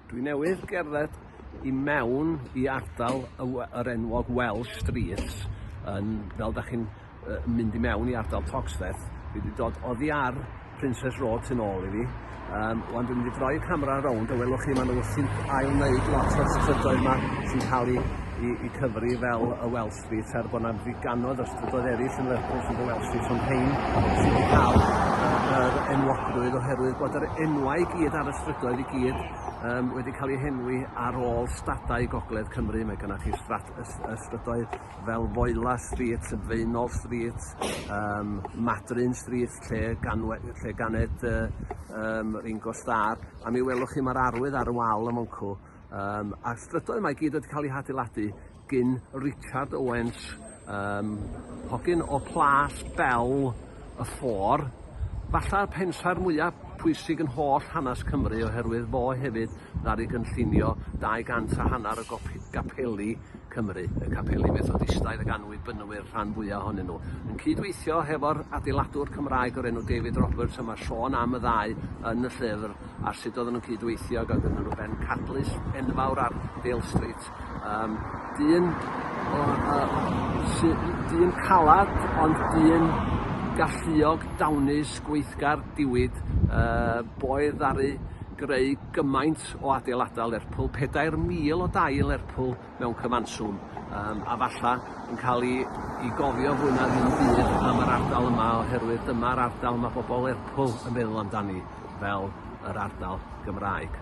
Dwi newydd gerdded i mewn i ardal y we- yr enwog Welsh Street yn fel 'dach chi'n yy mynd i mewn i ardal Toxteth dwi 'di dod oddi ar Princess Road tu nôl i fi yym ŵan dwi'n mynd i droi camera rownd a welwch chi ma' nw wrthi'n ail wneud lot o'r strydoedd 'ma sy'n ca'l 'u 'u 'u cyfri fel y Welsh Street er bod 'na ddigannoedd o strydoedd eraill yn Lerpwl sy'n The Welsh Street ond rhein sydd wedi cael yr enwogrwydd oherwydd bod yr enwau i gyd ar y strydoedd i gyd um, wedi cael eu henwi ar ôl stadau gogledd Cymru. Mae gennych chi strat, y strydoedd fel Foela Street, Feunol Street, um, Madryn Street, lle, ganwe, lle ganed uh, um, Ringo Starr. A mi welwch chi mae'r arwydd ar y wal y Moncw Um, a'r strydoedd yma i gyd wedi cael eu hadeiladu gyn Richard Owens, um, hogyn o Plas Bel y Ffôr. Falla'r pensaer mwyaf pwysig yn holl hanes Cymru oherwydd fo hefyd ddaru gynllunio 200 a hanner o gapeli Cymru, y capeli Methodistaidd a ganwybynwyd rhan fwya ohonyn nhw, yn cyd-weithio hefo'r adeiladwr Cymraeg o'r enw David Roberts, a mae sôn am y ddau yn y llyfr ar sut oedden nhw'n cyd-weithio ag oedden nhw'n bencadlys enfawr ar Dale Street. Um, dyn, o, o, dyn calad, ond dyn galluog, dawnus, gweithgar, diwyd, uh, boedd ddaru greu gymaint gant o adeiladau Lerpwl, pedair mil o dai yn Lerpwl mewn cyfanswm, yym, a falla yn cael ei i gofio fwy na ddim byd am yr ardal yma oherwydd dyma'r ardal mae bobl Lerpwl yn meddwl amdani fel yr ardal Gymraeg.